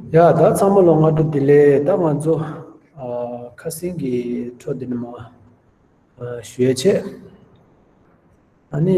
ཡ་ད་ཚང་མ་ལོ་ང་དྲུག་དེ་ལས་ད་ང་ཚོ་ཁ་སིང་གི་ཁྲོ་དེ་ནི་མ་ཞུས་ཆེ་ཨ་ནི་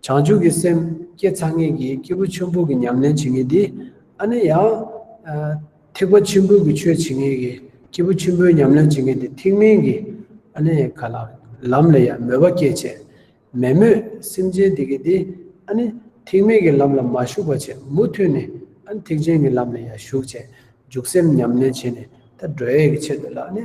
བྱང་ཆུབ་ཀྱི་སེམས་བསྐྱེད་ཚར་ངེས་ཀྱི་སྐྱེས་བུ་ཆོས་འབུར་གྱི་ཉམས་ལེན་བྱེད་ངེས་ཏེ། ཨ་ནི་ཡང། ཐེག་པ་ཆེན་པོའི་གྱི་ཆོས་བྱེད་ངེས་ཀྱི་སྐྱེས་བུ་ཆེན་པོའི་ཉམས་ལེན་བྱེད་ངེས་ཏེ་ཐེག་དམན་གྱི། ཨ་ནི་ཡང་ག་ལ། ལམ་ལ་ཡང་མོས་པ་སྐྱེད་བྱེད། མེད་མོད་སེམས་ཅན་དེ་གིས་ཏེ། ཨ་ནི། ཐེག་དམན་གྱི་ལམ་ལ་མ་ཞུགས་པ་བྱེད་མུ་མཐུད་ནས། ཨ་ནི་ཐེག་ཆེན་གྱི་ལམ་ལ་ཡང་ཞུགས་བྱེད། འཇུག་སེམས་ཉམས་ལེན་བྱེད་ནས། ད་གྲོལ་ཡས་ཀྱི་ཆེད་དུ་ལ་ཨ་ནི།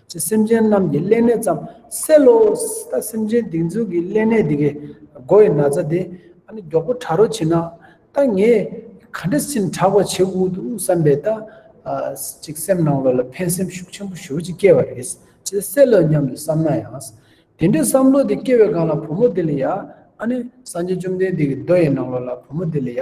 ཅེས་སེམས་ཅན་རྣམས་ཀྱི་སླད་གནས་ཙམ་སེལ་ལོ། ད་སེམས་ཅན་སྡིགས་མཛུབ་ཀྱི་སླད་གནས་འདི་གའི་སྒོ་བའི་ན་ཚ་དེ་ཨ་ནི་མགྱོགས་པོ་དྲ་རོ་བྱིན་ན། ད་ངས་ག་འདྲ་སེམས་དྲག་པ་བྱེད་དགོས་འདུག་བསམ་པས་ད་ཅིག་སེམས་ནང་ལོ་ལ་ཕན་སེམས་ཤུགས་ཆེན་པོ་ཞུ་ཅིག་སྐྱེ་བ་རེད། ཅེས་སེལ་ལོ་སྙམ་དུ་བསམ་ན་ཡང། དེ་འདྲའི་བསམ་བློ་དེ་སྐྱེ་བའི་སྒང་ལ་བུ་མོ་དེ་ལ་ཡ། ཨ་ནི་སངས་རྒྱས་བཅོམ་ལྡན་འདས་ཀྱི་མདོ་ཡི་ནང་ལོ་ལ་བུ་མོ་དེ་ལ་ཡ།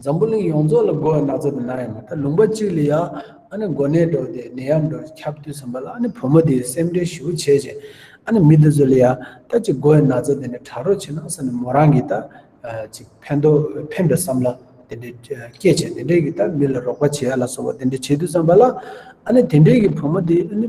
འཛམ་བུ་གླིང་ཡོངས་རྫོགས་ལ་སྒོ་བ་སྣ་ཚོགས་དེ་ན་ཡང་མ་ཐག་ལུང་པ་གཅིག་ལ་ཡང་ཨ་ནི་མགོ་ནད་འགྲོ་དེ་ནད་ཡམས་འགྲོ་ཁྱབ་དུས་ཟིན་པ་ལ་ཨ་ནི་བུ་མོ་དེ་ཡི་སེམས་ཁྲལ་ཞུ་བྱེད་ཅིང་ཨ་ནི་མི་དེ་ཚོ་ལ་ཡང་ད་ཅིག་སྒོ་བ་སྣ་ཚོགས་དེ་ནས་དྲག་རོགས་བྱེད་ན་ས་ནི་མོ་རང་གིས་ད་ཅིག་ཕན་ཐོག་ཕན་པའི་བསམ་བློ་དེ་འདྲའི་སྐྱེད་བྱེད་དེ་འདྲས་ཀྱིས་ད་མི་ལ་རོགས་པ་བྱེད་ཡ་ལ་སོགས་པ་དེ་འདྲས་བྱེད་དུས་ཙམ་པ་ལ་ཨ་ནི་དེ་འདྲས་ཀྱིས་བུ་མོ་དེ་ཨ་ནི།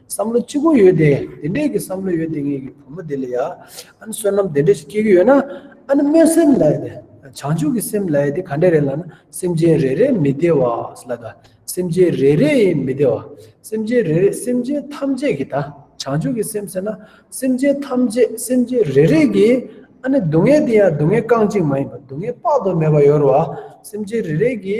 བསམ་བློ་ཅི་གོ་ཡོད་དེ་དེ་འདྲས་ཀྱི་བསམ་བློ་ཡོད་དེ་ངེད་ཀྱི་བུ་མོ་དེ་ལ་ཡ་ཨ་ནི་བསོད་ནམས་དེ་འདྲས་ཤིག་སྐྱེས་ཀྱི་ཡོད་ན་ཨ་ནི་སྨོན་སེམས་ལ་ཡོད་དེ་བྱང་ཆུབ་ཀྱི་སེམས་ལ་ཡོད་དེ་ག་འདྲས་རེད་ལ་ན་སེམས་ཅན་རེ་རེ་མི་བདེ་བ་ལ་ད་སེམས་ཅན་རེ་རེ་ཡི་མི་བདེ་བ་སེམས་ཅན་རེ་རེ་སེམས་ཅན་ཐམས་ཅད་ཀྱི་ད་བྱང་ཆུབ་ཀྱི་སེམས་ཟེར་ན་སེམས་ཅན་ཐམས་ཅད་སེམས་ཅན་རེ་རེ་གྱི་ཨ་ནི་སྡུག་བསྔལ་དེ་ཡང་སྡུག་བསྔལ་རྐང་གཅིག་མ་ཡིན་པར་སྡུག་བསྔལ་དཔག་ཏུ་མེད་པ་ཡོད་རེད་བ་སེམས་ཅན་རེ་རེ་གྱི།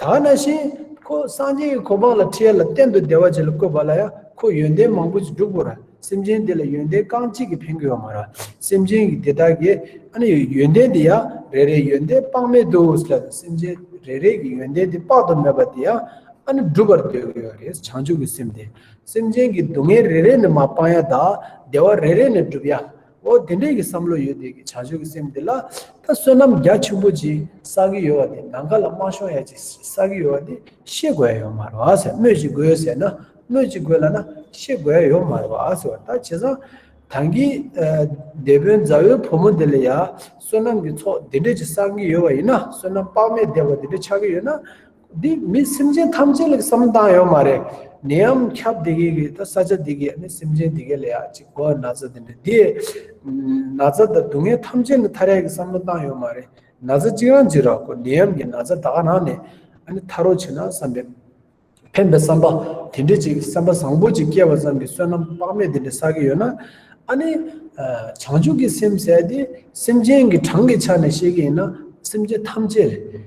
ད་ན་བཞིན་ཁོ་སངས་རྒྱས་ཀྱི་གོ་འཕང་ལ་ཁྲེལ་ལ་གཏན་དུ་བདེ་བ་ཅན་ལ་བཀོད་པ་ལ་ཡང་ཁོ་ཡོན་ཏན་མང་པོ་ཅིག་བསྒྲུབ་དགོས་ར་སེམས་ཅན་དེ་ལ་ཡོན་ཏན་རྐང་གཅིག་གིས་ཕན་དགོས་པ་མ་ར་སེམས་ཅན་གྱི་དེ་དག་གི་ཨ་ནི་ཡོན་ཏན་དེ་ཡང་རེ་རེའི་ཡོན་ཏན་དཔག་མེད་དུ་ལ་ལ་སེམས་ཅན་རེ་རེ་གི་ཡོན་ཏན་དེ་དཔག་ཏུ་མེད་པ་དེ་ཡང་ཨ་ནི་བསྒྲུབ་པར་འདོད་དགོས་པ་རེད་བྱང་ཆུབ་ཀྱི་སེམས་དེ་སེམས་ཅན་གྱི་སྡུག་བསྔལ་རེ་རེ་ནི་མ་སྤང་ཡ་དང་བདེ་བ་རེ་རེ་ནི་བསྒྲུབ་ཡ། ཨོ་དེ་འདྲས་ཀྱི་བསམ་བློ་ཡོད་དེ་གི་བྱ་སྤྱོད་ཀྱི་སེམས་དེ་ལ་ད་བསོད་ནམས་རྒྱ་ཆེན་པོ་ཅིག་བསགས་ཀྱི་ཡོད་བ་དེ་ནམ་མཁའ་ལ་དམར་ཤོང་ཡ་ཅིག་བསགས་ཀྱི་ཡོད་བ་དེ་ཤེས་དགོས་ཡོད་མ་རེད་བ་ཟེར་སྨོས་ཅིག་དགོས་ཟེར་ན་སྨོས་ཅིག་དགོས་ལ་ན་ཤེས་དགོས་ཡོད་མ་རེད་བ་ཟེར་བ་ད་བྱས་ཙང་དང་གི་སྡེ་དཔོན་མཛའ་བོའི་བུ་མོ་དེ་ལ་ཡ་བསོད་ནམས་ཀྱི་ཚོགས་དེ་འདྲས་ཅིག་བསགས་ཀྱི་ཡོད་བ་ཡིན་ན་བསོད་ནམས་དཔག་མེད་བདེ་བ་དེ་འདྲས་ཆགས་ཀྱི་ཡོད་ན། འདི་མི་སེམས་ཅན་ཐམས་ཅད་ལ་བསམ་སྟངས་ཡོད་མ་རེད། ནད་ཡམ་ཁྱབ་དེ་གའི་གི་ད་ས་ཆ་དེ་གའི་ནི་སེམས་ཅན་དེ་གའི་ལ་ཡ་གཅིག་གོ་ན་ཚ་དེ་འདྲ་དེ། ན་ཚ་དང་སྡུག་བསྔལ་ཐམས་ཅད་ནི་ཐ་རད་གི་བསམ་བློ་བཏང་ཡོད་མ་རེད། ན་ཚ་གཅིག་རང་གཅིག་རག་གོ་ནད་ཡམ་གི་ན་ཚ་ད་ག་ནང་ནས་ཨ་ནི་ཐར་རོ་བྱེད་ན་བསམ་པའི། ཕན་པའི་བསམ་པ་དེ་འདྲ་ཅིག་བསམ་པ་བཟང་པོ་ཅིག་སྐྱེ་བ་ཙམ་གྱི་བསོད་ནམས་དཔག་མེད་དེ་འདྲ་བསགས་ཀྱི་ཡོད་ན། ཨ་ནི། བྱང་ཆུབ་ཀྱི་སེམས་ཟད་དེ་སེམས་ཅན་གྱི་གྲངས་ཀྱི་ཆ་ནས་བཤད་ཀྱི་ཡིན་ན་སེམས་ཅན་ཐམས་ཅད་རེད།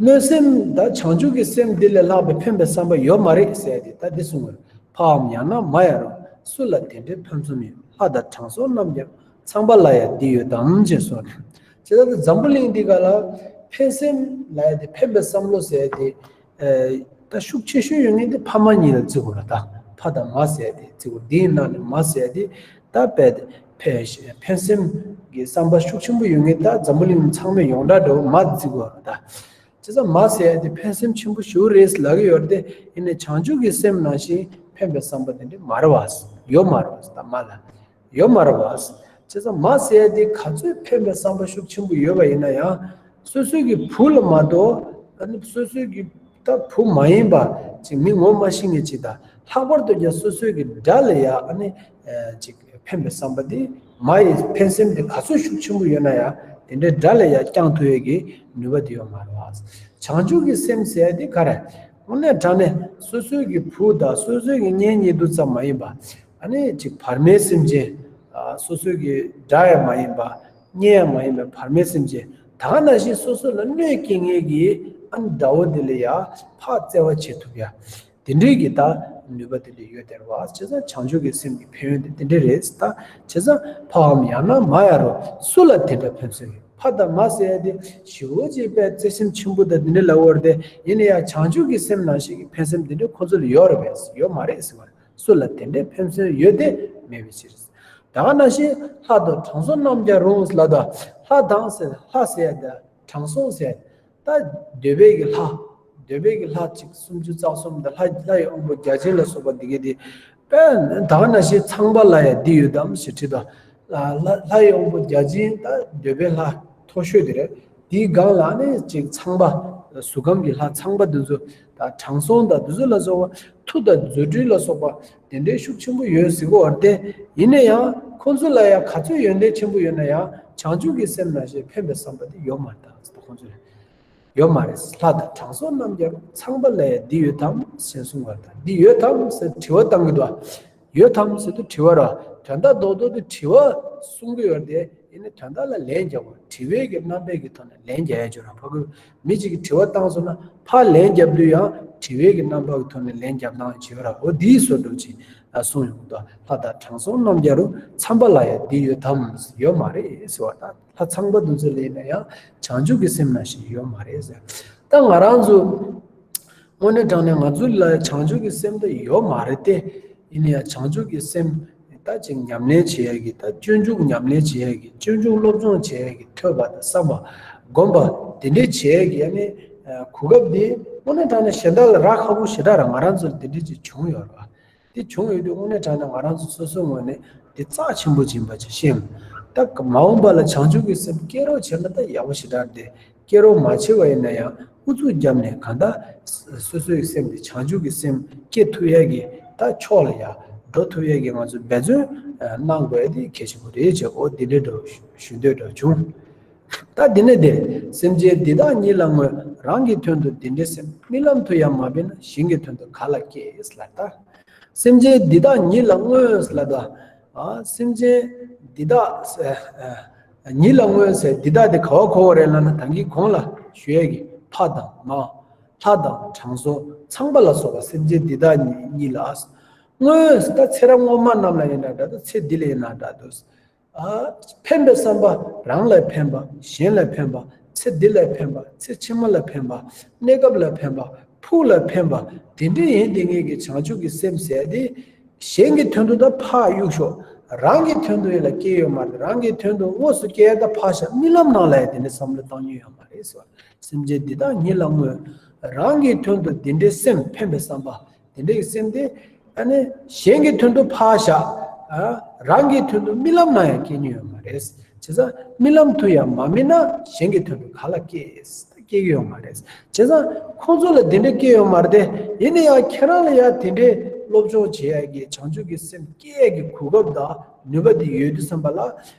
གནོད་སེམས་དང་བྱང་ཆུབ་ཀྱི་སེམས་འདི་ལས་ལྷག་པའི་ཕན་པའི་བསམ་པ་ཡོད་མ་རེད་ཟེར་ཏེ་ད་འདི་གསུང་བར་ཕའམ་ཡང་ན་མ་ཡང་རུང་སུ་ལ་དེ་འདྲའི་ཕུན་སུམ་ཡོད་ལྷ་དང་དྲང་སྲོང་རྣམས་ཀྱང་ཚངས་པ་ལ་ཡང་འདི་ཡོད་དམ་ཅེས་གསུང་བར། ཇི་ལྟར་དུ་འཛམ་བུ་གླིང་འདི་ག་ལ་ཕན་སེམས་ལ་ཡང་འདི་ཕན་པའི་བསམ་བློ་ཟེར་ཏེ། ད་ཤུགས་ཆེ་ཤོས་ཡོད་ངེས་ཏེ་ཕ་མ་གཉིས་ལ་བརྩི་དགོས་ལ་ད་ཕ་དང་མ་བསད་དེ་བརྩི་དགོས་དེའི་ནང་ནས་མ་བསད་དེ་ད་བས་ཏེ་ཕན་སེམས་ཀྱི་བསམ་པ་ཤུགས་ཆེན་པོ་ཡོད་ངེས་ད་འཛམ་བུ་གླིང་ནང་ཚང་མས་ཡོངས་གྲགས་འདྲ་བོ་མ་བརྩི་དགོས་ལ་ད་ཇི་ཙམ་མ་བསད་དེ་ཕན་སེམས་ཆེན་པོ་ཞུ་རེས་ལག་གི་ཡོད་དེ་ཡིན་ནས་བྱང་ཆུབ་ཀྱི་སེམས་ནང་བཞིན་ཕན་པའི་བསམ་པ་དེ་འདྲ་མ་རེད་བ་ཡོད་མ་རེད་བ་ད་མ་ལ། ཡོད་མ་རེད་བ། བྱས་ཙང་མ་ཟེར་ཡ་དེ་ག་ཚོད་ཕན་པའི་བསམ་པ་ཤུགས་ཆེན་པོ་ཡོད་པ་ཡིན་ན་ཡང། སོ་སོའི་གི་བུ་ལ་མ་གཏོགས་ད་ནི་སོ་སོའི་གི་ད་བུ་མ་ཡིན་པ་ཅིག་མི་ངོ་མ་ཤེས་ངེས་ཅིག་དང་ལྷག་པར་དུ་ཀྱང་སོ་སོའི་གི་དགྲ་ལ་ཡ་ནི་ཅིག་ཕན་པའི་བསམ་པ་དེ་མ་ཡི་ཕན་སེམས་དེ་ག་ཚོད་ཤུགས་ཆེན་པོ་ཡོད་ན་ཡང་དེ་འདྲའི་དགྲ་ལ་ཡ་བསྐྱང་ཐུབ་ཡ་གི་ནུས་པ་དེ་ཡོད་མ་རེད་བ། བྱང་ཆུབ་གི་སེམས་ཟེར་ཡ་དེ་ག་རེད། དངོས་གནས་དྲང་ནས་སོ་སོའི་གི་བུ་དང་སོ་སོའི་གི་གཉེན་ཉེ་དུ་ཙམ་མ་ཡིན་པ། ཨ་ནི་ཅིག་བར་མའི་སེམས་ཅན། སོ་སོའི་གི་སྒྲ་ཡང་མ་ཡིན་པ། བརྙན་ཡང་མ་ཡིན་པའི་བར་མའི་སེམས་ཅན། ད་ག་ན་བཞིན་སོ་སོ་ལ་གནོད་སྐྱེལ་ངེས་ཀྱི་ཨ་ནི་དགྲ་བོ་དེ་ལ་ཡང་བག་བཙལ་བ་བྱེད་ཐུབ་ཡ། དེ་འདྲའི་གི་ད་ནུས་པ་དེ་ལས་ཡོད་དེར་བ་བྱས་ཙང་བྱང་ཆུབ་ཀྱི་སེམས་ཀྱི་ཕན་ཡོན་དེ་དེ་འདྲའི་རེད་ད་བྱས་ཙང་ཕའམ་ཡང་ན་མ་ཡ་རུ་སུ་ལ་དེ་འདྲ་ཕན་སོན་ཡོད་ཕ་དང་མ་ཟེར་ཡ་དེ་ཞི་བོ་རྗེ་དཔལ་བརྩེ་སེམས་ཆེན་པོ་དང་དེ་འདྲའི་ལ་བོར་ཏེ་ཡིན་ན་ཡང་བྱང་ཆུབ་ཀྱི་སེམས་ནང་བཞིན་གྱི་ཕན་སེམས་དེ་འདྲའི་ཁོ་ཚོ་ལ་ཡོད་རེད་པས་ཡོད་མ་རེད་ཟེར་བ་རེད། སུ་ལ་དེ་འདྲའི་ཕན་སོན་ཡོད་དེ་མེད་པའི་ཕྱིར། ད་ག་ན་ཤེས་ལྷ་དང་དྲང་སྲོང་རྣམས་ཀྱང་རུང་ལ་དང་ལྷ་དང་ཟེར་ལྷ་ཟེར་དང་དྲང་སྲོང་ཟེར། ད་འདོད་པའི་གི་ལྷ། འདོད་པའི་གི་ལྷ་གཅིག་སུམ་ཅུ་རྩ་གསུམ་དང་ལྷ་ལྷ་ཡི་དབང་པོ་བརྒྱ་བྱིན་ལ་སོགས་པ་འདི་གས་དེ། ད་ག་ན་ཤེས་ཚངས་པ་ལ་ཡང་འདི་ཡོད་དམ་ཞེས་དྲིས་པ། ལ་ལྷ་ཡི་དབང་པོ་བརྒྱ་བྱིན་ད་འདོད་པའི་ལྷ་མཐོ་ཤོས་དེ་རེད། དེའི་སྒང་ལ་ནི་གཅིག་ཚངས་པ། གཟུགས་ཁམས་ཀྱི་ལྷ་ཚངས་པ་དེ་ཚོ། དང་དྲང་སྲོང་དང་བདུད་བཟོད་ལ་སོགས་པ། མཐུ་དང་རྫུ་འཕྲུལ་ལ་སོགས་པ། དེ་འདྲའི་ཤུགས་ཆེན་པོ་ཡོད་གཟིགས་པ་བར་བསྟན། ཡིན་ན་ཡང། ཁོ་ཚོ་ལ་ཡང་ག་ཚོད་ཡོན་ཏན་ཆེན་པོ་ཡོད་ན་ཡང། བྱང་ཆུབ་ཀྱི་སེམས་ན་ཞེས་ཕན་པའི་བསམ་པ་དེ་ཡོད་མ་རེད་དམ་ཟེར་ཏེ་ཁོ་ཚོ་ལས། ཡོད་མ་རེད། ལྷ་དང་དྲང་སྲོང་རྣམས་ཀྱང་ཚངས་པ་ལ་ཡང་འདི་ཡོད་དམ་ཞེས་གསུངས་པ་དང་འདི་ཡོད་དམ་ཟེར་དྲི་བ་བཏང་གི་འདུག། ཡོད་དམ་ཟེར་དུ་དྲི་བ་ར་དོན་དག་རྡོག་རྡོག་གི་དྲི་བ་གསུང་གི་ཡོད་དེ་ཡིན་ནི་དོན་དག་ལ་ལན་རྒྱག་དགོས་དྲི་བའི་གི་རྣམ་པས་གི་ཐོག་ནས་ལན་རྒྱག་ཡ་ཆོད་ར་ཕ་གུ་མི་ཅིག་གི་དྲི་བ་བཏང་སོང་ན་ཕ་ལན་རྒྱབ་དུས་ཡང་དྲི་བའི་གི་རྣམ་པ་གི་ཐོག་ནས་ལན་རྒྱབ་སྟངས་བྱེད་པ་ར་ཨོ་དེའི་བཟོ་འགྲོ་ཅིག་གསུང་ཡོང་དོ་ལྷ་དང་དྲང་སྲོང་རྣམ་རྒྱལ་རུ་འཚམས་པ་ལ་ཡ་དེ་ཡོད་དམ་ཡོད་མ་རེད་ཟེར་བ་དང་ལྷ་ཚངས་པ་འདུ་ཚོད་ལེན་ན་ཡང་བྱང་ཆུབ་གི་སེམས་ན་ཞིག་ཡོད་མ་རེད་ཟེར་ད་ང་རང་ཚོ། དངོས་གནས་དྲང་ནས་ང་ཚོ་ལ་བྱང་ཆུབ་ཀྱི་སེམས་ད་ཡོད་མ་རེད་དེ། ཡིན་ན་ཡང་བྱང་ཆུབ་ཀྱི་སེམས་ད་ཅིག་ཉམས་ལེན་བྱེད་ཡག་གི་ད་སྤྱོད་འཇུག་ཉམས་ལེན་བྱེད་ཡག་གི་སྤྱོད་འཇུག་སློབ་སྦྱོང་བྱེད་ཡག་གི་ཐོས་པ་དང་བསམ་པ། སྒོམ་པ། དེ་འདྲས་བྱེད་ཡག་གི་ཡ་ནི་གོ་སྐབས་འདི། དངོས་གནས་དྲང་ནས་གཞན་དག་ལ་རག་ཁ་པོ་ཞེ་དྲག་རང་ང་རང་ཚོར་དེ་འདྲས་ཅིག་བྱུང་ཡོད་རེད་བ། དེ་བྱུང་ཡོད་དུས་དངོས་གནས་དྲན་ན་ང་རང་ཚོ་སོ་སོའི་ངོས་ནས་དེ་རྩ་ཆེན་པོ་སྦྱིན་པ་ཆེ་ཤོས་ཡིན། ད་མ་འོངས་པ་ལ་བྱང་ཆུབ་ཀྱི་སེམས་སྐྱེ་རོགས་བྱེད་ན་ད་ཡག་པོ་ཞེ་དྲག་སྟེ་སྐྱེ་རོགས་མ་བྱེད་པ་ཡིན་ན་ཡང་ཨུ་ཚུགས་བརྒྱབ་ནས་གང་ལྟར་སོ་སོའི་ཡི་སེམས་དེ་བྱང་ཆུབ་ཀྱི་སེམས་སྐྱེ་ཐུབ་ཡས་ཀྱི་ད་ཕྱོགས་ལ་ཡག་འགྲོ་ཐུབ་ཡས་ཀྱི་ང་ཚོས་འབད་བརྩོན་གནང་དགོས་དེ་གལ་ཆེན་པོ་རེད་ཅེས་འོ་དེ་འདྲའི་འདྲ་ཞུ་འདོད་འདྲ་བྱུང། ད་དེ་ནས་དེ་སེམས་ཅན་འདི་དག་ཉིད་ལ་ངོས་རང་གི་དོན་དུ་འདི་འདྲའི་སེམས་རྨི་ལམ་དུ་ཡང་མ་སྦས་ན་གཞན་གྱི་དོན་དུ་ག་ལ་སྐྱེས་ལགས་ད། སེམས་ཅན་འདི་དག་ཉིད་ལ་ངོས་ལ་ད། སེམས་ཅན་འདི་དག་ཉིད་ལ་ངོས་ཟེར་འདི་དག་དེ་ག་བ་གོ་བ་རེད་ལ་ན་དང་གིས་གོང་ལ་ཞུ་ཡས་ཀྱི་ཕ་དང་མ། ལྷ་དང་དྲང་སྲོང་ཚངས་པ་ལ་སོགས་པ་སེམས་ཅན་འདི་དག་ཉིད་ལ་ངོས་ད་ཚེ་རབས་སྔོན་མ་རྣམས་ལ་ཡིན་ན་འདྲ་ད་ཚེ་འདི་ལ་ཡིན་ན་འདྲ་ད། ཕན་པའི་བསམ་པ་རང་ལ་ཕན་པ་གཞན་ལ་ཕན་པ་ཚེ་འདི་ལ་ཕན་པ་ཚེ་ཕྱི་མ་ལ་ཕན་པ་གནས་སྐབས་ལ་ཕན་པ་ཕུགས་ལ་ཕན་པ་དེ་འདྲའི་ཡིན་དེ་ངེད་ཀྱི་བྱང་ཆུབ་ཀྱི་སེམས་ཟད་དེ། གཞན་གྱི་དོན་དུ་ད་འཕགས་གཡུག་ཤོག་རང་གི་དོན་དུ་ཡིད་ལ་སྐྱེས་ཡོད་མ་རེད་རང་གི་དོན་དུ་དངོས་སུ་སྐྱེས་ད་འཕགས་ཤག་རྨི་ལམ་ནང་ལ་ཡང་དེ་འདྲའི་བསམ་བློ་བཏང་མྱོང་ཡོད་མ་རེད་ཟེར་བ་ལ་སེམས་ཅན་འདི་དག་ཉིད་ལ་དངོས་རང་གི་དོན་དུ་འདི་འདྲའི་སེམས་ཕན་པའི་བསམ་པ། དེ་འདྲའི་སེམས་དེ་གཞན་གྱི་དོན་དུ་ཕར་བཞག་རང་གི་དོན་དུ་རྨི་ལམ་ན་ཡང་སྐྱེ་ཉེན་ཡོད་མ་རེད་བྱས་ཙང་རྨི་ལམ་དུ་ཡང་མ་རྨིས་ན་གཞན་གྱི་དོན་དུ་ག་ལ་སྐྱེ་སྐྱེ་གི་ཡོད་མ་རེད་བྱས་ཙང་ཁོང་ཚོ་ལ་དེ་འདྲ་སྐྱེ་ཡོད་མ་རེད་ཡིན་ན་ཡང་ཁྱེད་རང་ལ་ཡང་དེ་འདྲའི་སློབ་སྦྱོང་བྱེད་ཡག་གི་བྱང་ཆུབ་ཀྱི་སེམས་སྐྱེ་ཡག་གི་གོ་སྐབས་དང་ནུས་པ་དེ་ཡོད་དུས་བསམ་པ་ལ་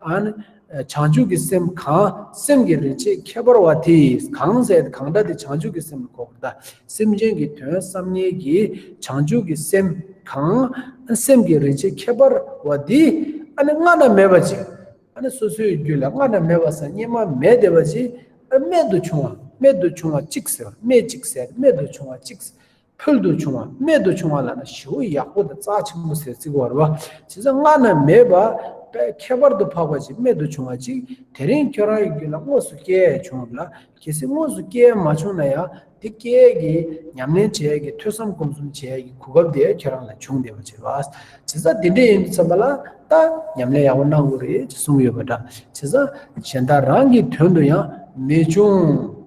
ཨཱ། བྱང་ཆུབ་ཀྱི་སེམས་གང་སེམས་ཀྱི་རིན་ཆེན་ཁྱད་པར་བ་དེས་གང་ཟས་དེ་གང་འདྲ་དེ་བྱང་ཆུབ་ཀྱི་སེམས་ལ་གོ་བར་གདའ། སེམས་ཅན་གྱི་དོན་བསམ་ངེས་ཀྱིས་བྱང་ཆུབ་ཀྱི་སེམས་གང་སེམས་ཀྱི་རིན་ཆེན་ཁྱད་པར་བ་དེས་ཨཱ་ནི་སྔ་ན་མེད་པ་ཅིག་ཨཱ་ནི་སོ་སོའི་རྒྱུད་ལ་སྔ་ན་མེད་པ་སང་སྙེ་མ་མེད་དེ་བ་ཅིག་རྨད་དུ་བྱུང་བ་རྨད་དུ་བྱུང་བ་གཅིག་ཟེར་བ་སྨད་ཅིག་ཟས་རྨད་དུ་བྱུང་བ་གཅིག། ཕུལ་དུ་བྱུང་བ་རྨད་དུ་བྱུང་བ་ལ་ན་བྱི་བོ་ཡག་པོ་དང་རྩ་ཆེན་པོ་ཟེར་རྩིག་བར་བ་བྱེད་ས་སྔ་ན་མེད་པ་པས་ཁྱད་པར་དུ་འཕགས་པ་ཅིག་རྨད་དུ་བྱུང་བ་ཅིག་དེ་རིང་ཁྱོད་རང་ཡི་རྒྱུད་ལ་དངོས་སུ་སྐྱེ་ཡས་བྱུང་བ་ལ་གལ་སྲིད་དངོས་སུ་སྐྱེ་ཡས་མ་བྱུང་ན་ཡང་འདི་སྐྱེ་ཡས་ཀྱི་ཉམས་ལེན་བྱེད་ཡས་ཀྱི་ཐོས་བསམ་སྒོམ་གསུམ་བྱེད་ཡས་ཀྱི་གོ་སྐབས་དེ་ཁྱོད་རང་ལ་བྱུང་བསྡད་པ་བྱེད་བྱེད་ས་འདི་འདྲས་ཡིན་དུ་བསམ་པ་ལ་ད་ཉམས་ལེན་ཡག་པོ་གནང་དགོས་རེད་ཅེས་གསུངས་ཡོད་པ་འདྲ་བྱེད་ས་གཞན་དག་རང་གི་དོན་དུ་ཡང་མི་བྱུང་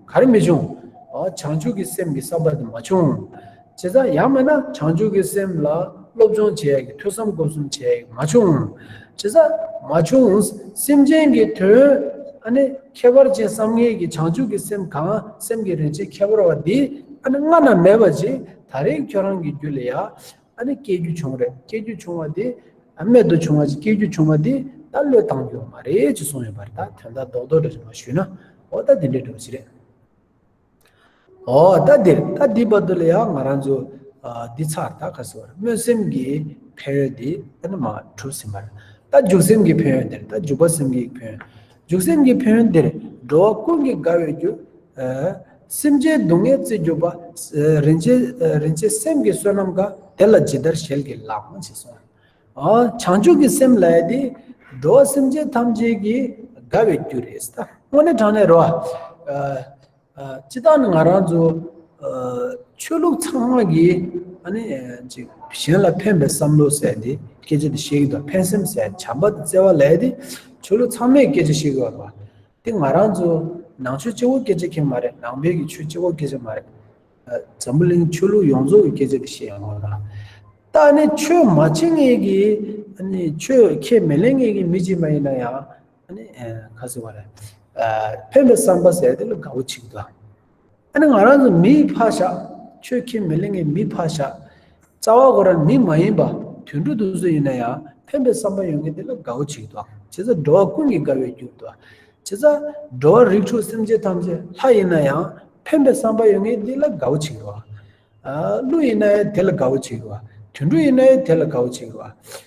ག་རེ་མི་བྱུང། བྱང་ཆུབ་ཀྱི་སེམས་ཀྱི་བསམ་པ་དེ་མ་བྱུང། བྱས་ཙང་ཡང་མེད་ན་བྱང་ཆུབ་ཀྱི་སེམས་ལ་སློབ་སྦྱོང་བྱས་ཀྱི་ཐོས་བསམ་སྒོམ་གསུམ་བྱས་ཀྱི་མ་བྱུང། བྱས་ཙང་མ་བྱུང། སེམས་ཅན་གྱི་དོན། ཁྱད་པར་ཅན་བསམ་ངན་གྱི་བྱང་ཆུབ་ཀྱི་སེམས་གང་སེམས་ཀྱི་རིན་ཆེན་ཁྱད་པར་བ་འདི། སྔ་ན་མེད་པ་ཅིག་ད་རེས་ཁྱོད་རང་གི་རྒྱུད་ལ་ཡང། སྐྱེ་རྒྱུ་བྱུང་རེད་སྐྱེ་རྒྱུ་བྱུང་བ་འདི། རྨད་དུ་བྱུང་བ་ཅིག་སྐྱེ་རྒྱུ་བྱུང་བ་འདི། ད་བློས་བཏང་རྒྱུ་བ་མ་རེད་ཅེས་གསུངས་ཡོད་པ་རེད་ད་དོན་དག་རྡོག་རྡོག་འདྲ་ཞིག་མ་ཞུས་ན། འོ་ད་འདི་འདྲའི་འགྲོ་བ་ཅི་རེད། ཨོ་ད་འདིར་ད་འདི་བར་དུ་ལ་ཡང་ང་རང་ཚོ་འདི་ཚར་ད་ག་སོ་སྨོན་སེམས་ཀྱི་ཕན་ཡོན་འདི་ཨ་ནི་མ་གྲུབ་ཟིན་པར་ད་འཇུག་སེམས་ཀྱི་ཕན་ཡོན་འདིར་ད་འཇུག་པ་སེམས་ཀྱི་ཕན་འཇུག་སེམས་ཀྱི་ཕན་ཡོན་འདིར་འགྲོ་བ་ཀུན་གྱི་དགའ་བའི་རྒྱུ། སེམས་ཅན་སྡུག་བསྔལ་རྩིས་གྱུར་པ། རིན་ཆེན་སེམས་ཀྱི་བསོད་ནམས་འགའ་དེ་ལ་ཇི་ལྟར་ཞལ་གྱིས་ལག་དབང་བྱས་སོ། བྱང་ཆུབ་ཀྱི་སེམས་ལས་དེ་འགྲོ་བ་སེམས་ཅན་ཐམས་ཅད་ཀྱི་དགའ་བའི་རྒྱུ་རེད་ཟེར། དངོས་གནས་དྲང་གནས་རོ། སྤྱི་དང་ནི་ང་རང་ཚོ་ཆོས་ལུགས་ཚང་མ་གིས་གཞན་ལ་ཕན་པའི་བསམ་བློ་ཟེར་དེ་སྐད་ཆ་དེ་བཤད་ཀྱི་འདུག་ཕན་སེམས་ཟེར་བྱམས་པ་དེ་བརྩེ་བ་ལས་དེ་ཆོས་ལུགས་ཚང་མས་སྐད་ཆ་བཤད་ཀྱི་ཡོད་པ། དེ་ང་རང་ཚོ་ནང་ཆོས་སྤྱི་བོ་སྐད་ཆ་མཁན་མ་རེད་ནང་པའི་གི་ཆོས་སྤྱི་བོ་སྐད་ཆ་མ་རེད། འཛམ་བུ་གླིང་ཆོས་ལུགས་ཡོངས་རྫོགས་ཀྱི་སྐད་ཆ་འདི་བཤད་ཡོང་བ་དང། ད་ནི་ཆོས་མ་བྱེད་ངེས་ཀྱི། ཆོས་ཁས་མི་ལེན་ངེས་ཀྱི་མི་གཅིག་མ་ཡིན་ན་ཡང། ཁ་ཟེར་བ་རེད། ཕན་པའི་བསམ་པ་ཟེར་དེ་ལ་དགའ་བོ་བྱེད་དོ། ང་རང་ཚོ་མིའི་ཕ་ཞག་ཆོས་ཁས་མི་ལེན་ངེས་མིའི་ཕ་ཞག། རྩ་བ་གོ་ར་ནི་མ་ཡིན་པ། དུད་འགྲོ་དུ་སུ་ཡིན་ན་ཡང་ཕན་པའི་བསམ་པ་ཡོད་མཁན་དེ་ལ་དགའ་བོ་བྱེད་དོ། བྱེད་ས་འགྲོ་བ་ཀུན་གྱི་དགའ་བའི་རྒྱུར་དོ། བྱེད་ས་འགྲོ་བ་རིགས་དྲུག་སེམས་ཅན་ཐམས་ཅད་ལྷ་ཡིན་ན་ཡང་ཕན་པའི་བསམ་པ་ཡོད་མཁན་དེ་ལ་དགའ་བོ་བྱེད་དོ། ཀླུ་ཡིན་ན་ཡང་དེ་ལ་དགའ་བོ་བྱེད་དོ། དུད་འགྲོ་ཡིན་ན་ཡང་དེ་ལ་དགའ་བོ་བྱེད་དོ།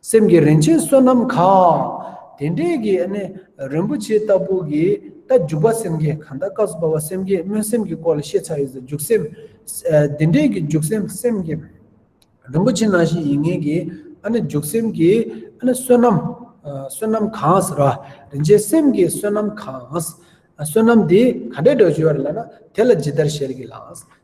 སེམས་ཀྱི་རིན་ཆེན་བསོད་ནམས་མཁའ། དེ་འདྲའི་གི་ནི་རིན་པོ་ཆེ་ལྟ་བུ་གི་རྟ་རྒྱུག་པ་སེམས་བསྐྱེད་གང་དག་སྐབས་སུ་བབ་པ་སེམས་བསྐྱེད་སྨོན་སེམས་ཀྱི་སྐོར་ལ་བཤད་ཚར་ཡོད་ཟེར་རྒྱུག་སེམས། དེ་འདྲའི་གི་རྒྱུག་སེམས་སེམས་བསྐྱེད། རིན་པོ་ཆེ་ནང་བཞིན་ཡིན་ངེས་ཀྱི་རྒྱུག་སེམས་ཀྱི་བསོད་ནམས། བསོད་ནམས་གང་ཟེར་རོ། རིན་ཆེན་སེམས་བསྐྱེད་བསོད་ནམས་གང། བསོད་ནམས་དེ་ག་འདྲའི་དགྲ་བཅོལ་བ་རེད་ལ་ན་དེ་ལ་ཇི་ལྟར་བཤད་གི་ལགས།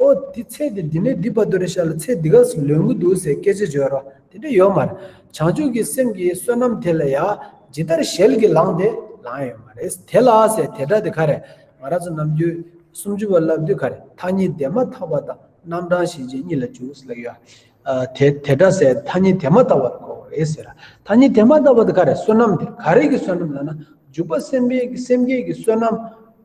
ཨོ་དེ་ཚེ་འདི་འདི་ནས་འདི་བར་དུ་རེད་ཤག་ལ་ཚེ་འདི་ག་ཟིག་ལོན་གི་འདུག་ཟེར་སྐད་ཆ་བརྗོད་རོགས་དེ་འདྲ་ཡོད་མ་རེད། བྱང་ཆུབ་ཀྱི་སེམས་ཀྱི་བསོད་ནམས་དེ་ལ་ཡང་ཇི་ལྟར་ཞལ་གྱིས་ལངས་ཏེ་ལངས་ཡོད་མ་རེད། དེ་ལ་ཟེར་དེ་འདྲ་དེ་ག་རེད། ང་རང་ཚོ་ནམ་རྒྱུན་སུམ་ཅུ་བ་བསླབ་དུས་ག་རེད་མཐའ་གཉིས་དེ་མ་ཐག་པ་དང་རྣམ་གྲངས་ཞེན་ཅན་གཉིས་ལ་འཇུག་ཟེར་ལགས་ཡོད། དེ་དེ་འདྲ་ཟེར་མཐའ་གཉིས་དེ་མ་ཐག་པ་དེ་ག་བ་རེད་ཟེར། མཐའ་གཉིས་དེ་མ་ཐག་པ་དེ་ག་རེད་བསོད་ནམས་དེ་ག་རེ་གི་བསོད་ནམས་ལ་ན་འཇུག་པ་སེམས་སེམས་བསྐྱེད་ཀྱི་བསོད་ནམས་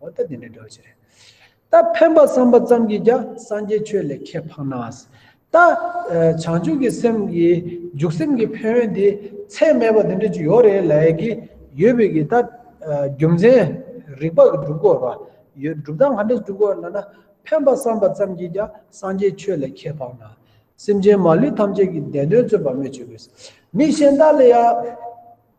འོ་ད་དེ་འདྲའི་སྒྲོལ་བྱེད་རེད། ད་ཕན་པ་བསམ་པ་ཙམ་གྱིས་ཀྱང་སངས་རྒྱས་ཆོས་ལས་ཁྱད་འཕགས་ན། ད་བྱང་ཆུབ་ཀྱི་སེམས་ཀྱི་འཇུག་སེམས་ཀྱི་ཕན་ཡོན་དེ་ཚད་མེད་པ་དེ་འདྲ་ཅིག་ཡོད་རེད་ལས་ཀྱི་ཡོད་པས་ཀྱི་ད་རྒྱུ་མཚན་རིགས་པ་གྲུབ་དགོས་པ་ཡོད་སྒྲུབ་སྟངས་ག་འདྲ་གྲུབ་དགོས་ལ་ན། ཕན་པ་བསམ་པ་ཙམ་གྱིས་ཀྱང་སངས་རྒྱས་ཆོས་ལས་ཁྱད་འཕགས་ན། སེམས་ཅན་མ་ལུས་ཐམས་ཅད་ཀྱི་བདེན་དོན་བརྩོན་པར་སྨོད་བྱེད་དགོས། མི་གཞན་དག་ལ་ཡང།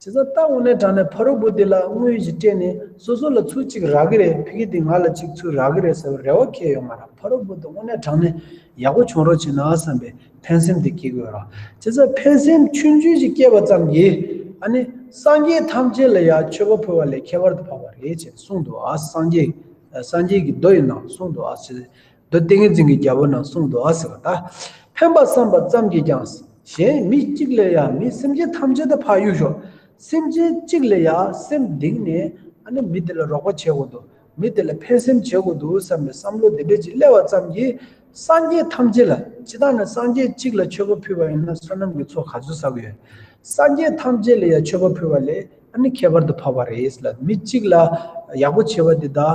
བྱས་ཙང་སྟག་འོ་ནས་དྲངས་ནས་ཕ་རོལ་པོ་དེ་ལ་དངུལ་གཞི་སྤྲད་ནས་སོ་སོ་ལ་ཚུར་གཅིག་རག་གི་རེད་ཕི་གི་དེ་ང་ལ་གཅིག་ཚུར་རག་གི་རེད་ཟེར་བར་རེ་བ་ཁེལ་ཡོང་མ་རག་ཕ་རོལ་པོ་དེ་འོ་ནས་དྲངས་ནས་ཡག་པོ་བྱུང་རོགས་བྱས་ན་བསམ་པའི་ཕན་སེམས་དེ་སྐྱེ་དགོས་ར་བྱས་ཙང་ཕན་སེམས་ཆུང་ཆུང་ཞིག་སྐྱེས་པ་ཙམ་གྱིས་ཨ་ནི་སངས་རྒྱས་ཐམས་ཅད་ལ་ཡང་མཆོད་པ་ཕུལ་བ་ལས་ཁྱད་པར་དུ་འཕགས་པ་རེད་ཅེས་གསུངས་འདུག་ཨ་སངས་རྒྱས་སངས་རྒྱས་ཀྱི་མདོ་ཡི་ནང་གསུངས་འདུག་ཨ་བྱས་ཙང་འདི་ཏིང་ངེ་འཛིན་གྱི་རྒྱལ་པོ་ནང་གསུང་དུ་ཨ་ཟེར་བ་དག། ཕན་པར་བསམས་པ་ཙམ་གྱིས་ཀྱང། གཞན་མི་གཅིག་ལས་ཡང་མི་སེམས་ཅན་ཐམས་ཅད་དུ་འཕགས་ཡུལ་ཤོག། སེམས་ཅན་གཅིག་ལས་ཡང་སེམས་གདིང་ནས་ཨ་ནི་མི་དེ་ལ་རོགས་པ་བྱེད་དགོས་འདུག་མི་དེ་ལ་ཕན་སེམས་བྱེད་དགོས་འདུག་བསམ་པའི་བསམ་བློ་དེ་འཕེལ་གྱིས་སླེབས་བ་ཙམ་གྱིས། སངས་རྒྱས་ཐམས་ཅད་ལ་སྤྱི་དང་ནི་སངས་རྒྱས་གཅིག་ལ་མཆོད་པ་ཕུལ་བ་ཡིན་ན་བསོད་ནམས་ཀྱི་ཚོགས་ག་ཚོད་ཟ་གི་ཡོད། སངས་རྒྱས་ཐམས་ཅད་ལ་ཡང་མཆོད་པ་ཕུལ་བ་ལས། ཨ་ནི་ཁྱད་པར་དུ་འཕགས་པ་རེས་ལ་མི་གཅིག་ལ་ཡག་པོ་བྱེད་པ་འདི་དག་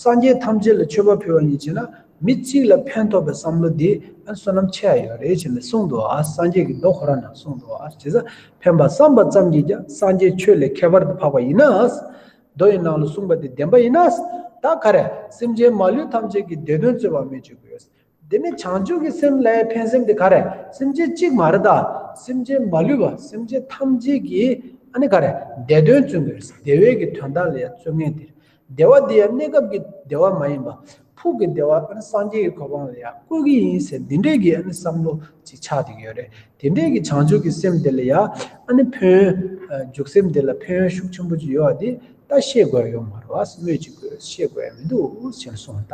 སངས་རྒྱས་ཐམས་ཅད་ལ་མཆོད་པ་ཕུལ་བ་ཉིད་བྱས་ན་མི་གཅིག་ལ་ཕན་ཐོགས་པའི་བསམ་བློ་འདི་ཨ་བསོད་ནམས་ཆེ་ཡ་ཡོད་རེད་བྱས་ནས་གསུངས་འདུག་ཨ་སངས་རྒྱས་ཀྱི་མདོ་ཁོ་ར་ན་གསུངས་འདུག་ཨ་བྱས་ས་ཕན་པ་བསམ་པ་ཙམ་གྱིས་ཀྱང་སངས་རྒྱས་ཆོས་ལས་ཁྱད་པར་དུ་འཕགས་པ་ཡིན་ན་ཨ་མདོ་ཡི་ནང་ལ་གསུངས་པ་དེ་བདེན་པ་ཡིན་ན་ཨ་ད་ག་རེ་སེམས་ཅན་མ་ལུས་ཐམས་ཅད་ཀྱི་བདེ་དོན་རྩོད་པ་མེད་ཅེས་བསྒོས་འདི་ནི་བྱང་ཆུབ་ཀྱི་སེམས་ལྷའི་འཕེན་སེམས་དེ་ག་རེ་སེམས་ཅན་གཅིག་མ་རེད་ད་སེམས་ཅན་མ་ལུས་པ་སེམས་ཅན་ཐམས་ཅད་ཀྱི་ཨ་ནི་ག་རེ་བདེ་དོན་བརྩོན་དགོས་རེད་བདེ་བའི་གི་དོན་དག་ལ་ཡང་བརྩོན་ངེས་དེ་བདེ་བ་འདི་ཡང་གནས་སྐབས་ཀྱི་བདེ་བ་མ་ཡིན་པ་ཕུགས་ཀྱི་བདེ་བ་ཨ་ནི་སངས་རྒྱས་ཀྱི་གོ་འཕང་ལ་ཡང་བཀོད་ཀྱི་ཡིན་ཟེར་འདི་འདྲའི་གི་ཨ་ནི་བསམ་བློ་ཅིག་ཆགས་འདུག་ཡོད་རེད་དེ་འདྲའི་གི་བྱང་ཆུབ་ཀྱི་སེམས་དེ་ལ་ཡང་ཨ་ནི་ཕོན་འཇུག་སེམས་དེ་ལ་ཕན་ཡོན་ཤུགས་ཆེན་པོ་ཅིག་ཡོད་བ་འདི་ལྟ་ཤེས་དགོས་ཡོད་མ་རེད་བ་སྨོས་ཅིག་དགོས་ཤེས་དགོས་ཡ་མི་འདུག་ཟེར་སོང་ད།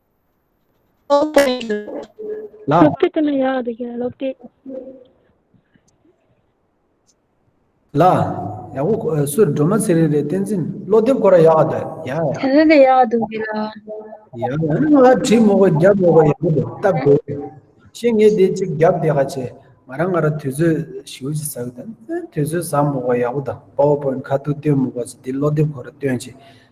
ལོག་དེ་ལ་ཡ་དེ་ག་ལོག་དེ་ལ་ཡ་གོ་སུ་འགྲོ་མ་ཚེ་རེ་རེ་ཏན་ཚིན་ལོ་དེབ་གོ་ར་ཡ་དེ་ཡ་ཡ་དེ་དེ་ཡ་དེ་གི་ལ་ཡ་ཡ་ང་ཁྲི་མོ་གོ་རྒྱབ་མོ་གོ་ཡ་གོ་དེ་ཏབ་གོ་ཤེ་ངེ་དེ་ཅིག་རྒྱབ་དེ་ག་ཆེ་ང་རང་ང་ར་དུས་ཚོད་ཞིག་ཅིག་ཟ་གི་དང་དུས་ཚོད་ཟ་མོ་གོ་ཡ་གོ་དང་པའོ་པོ་ཁ་ཏུ་སྟོན་མོ་གོ་ཚེ་དེ་ལོ་དེབ་གོ་ར་སྟོན་ཆེ་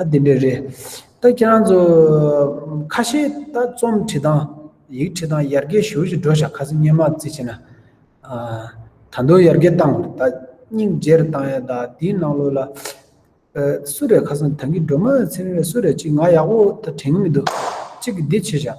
ཨ་དེ་འདྲས་རེད། ད་ཁྱེད་རང་ཚོ། ཁ་ཤས་ད་རྩོམ་འབྲི་སྟངས། ཡིག་འབྲི་སྟངས་ཡར་རྒྱས་ཞུར་ཞུ་འགྲོ་བཞག་ཁ་སེམས་སྙན་མ་བརྩི་བྱེད་ན། ད་མདོ་ཡར་རྒྱས་བཏང་བར་ད་སྙིང་རྗེ་རེ་བཏང་ཡ་ད་དེའི་ནང་ལོགས་ལ། སུ་རེད་ཁ་སང་དེང་གི་སྒྲོལ་མ་ཚེ་རིང་རེད་སུ་རེད་ཅིག་ང་ཡག་པོ་ད་དྲན་གི་མི་འདུག་གཅིག་གིས་འདི་བྱེད་བཞག།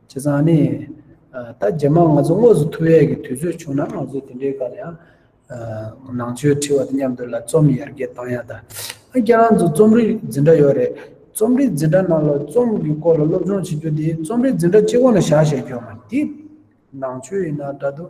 བྱས་ཙང་ནི། ད་རྗེས་མ་ང་ཚོ་དངོས་སུ་ཐུག་ཡས་ཀྱི་དུས་ཚོད་བྱུང་ན་ང་ཚོས་དེ་འདྲའི་སྐོར་ལ་ཡང། ནང་ཆོས་ཁྲི་བ་དང་མཉམ་དུ་ལ་རྩོམ་ཡར་རྒྱས་གཏང་ཡག་ད། རྒྱ་རང་ཚོ་རྩོམ་རིག་འཛིན་གྲྭ་ཡོད་རེད། རྩོམ་རིག་འཛིན་གྲྭ་ནང་ལ་རྩོམ་གྱི་སྐོར་ལ་སློབ་སྦྱོང་བྱེད་རྒྱུ་དེ་རྩོམ་རིག་འཛིན་གྲྭ་སྤྱི་ཁོག་ནས་བཞག་ཤེས་རྒྱུ་མ། འདི་ནང་ཆོས་ཡིན་ན་འདྲ་འདུག།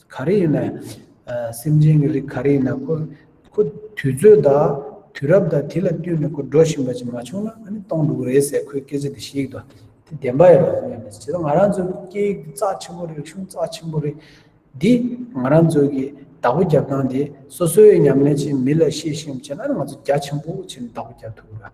ག་རེ་ཡིན་ནས། སེམས་ཅན་གྱི་རིགས་ག་རེ་ཡིན་ན། ཁོ་དུས་ཚོད་དང་དུས་རབས་དང་དེ་ལ་བསྟུན་ནས་ཁོ་འགྲོ་བཞིན་པ་ཅིག་མ་བྱུང་ན་ཨ་ནི་སྟོང་འདུག་རེད་ཟེར་ཁོའི་སྐད་ཆ་དེ་ཤེས་ཀྱི་འདུག་དེ་བདེན་པ་ཡིན་རུང་ཡང་མི་སྲིད། ང་རང་ཚོའི་སྐད་ཡིག་འདི་རྩ་ཆེན་པོ་རེད་རིག་གཞུང་རྩ་ཆེན་པོ་རེད། འདི་ང་རང་ཚོའི་གི་བདག་པོ་རྒྱབ་སྟངས་དེ་སོ་སོའི་ཉམས་ལེན་ཅིག་མི་ལ་ཤེས་ཤེས་བྱས་ན་ང་ཚོ་རྒྱ་ཆེན་པོ་ཆེ་ནས་བདག་པོ་རྒྱབ་ཐུབ་ཀྱི་རེད།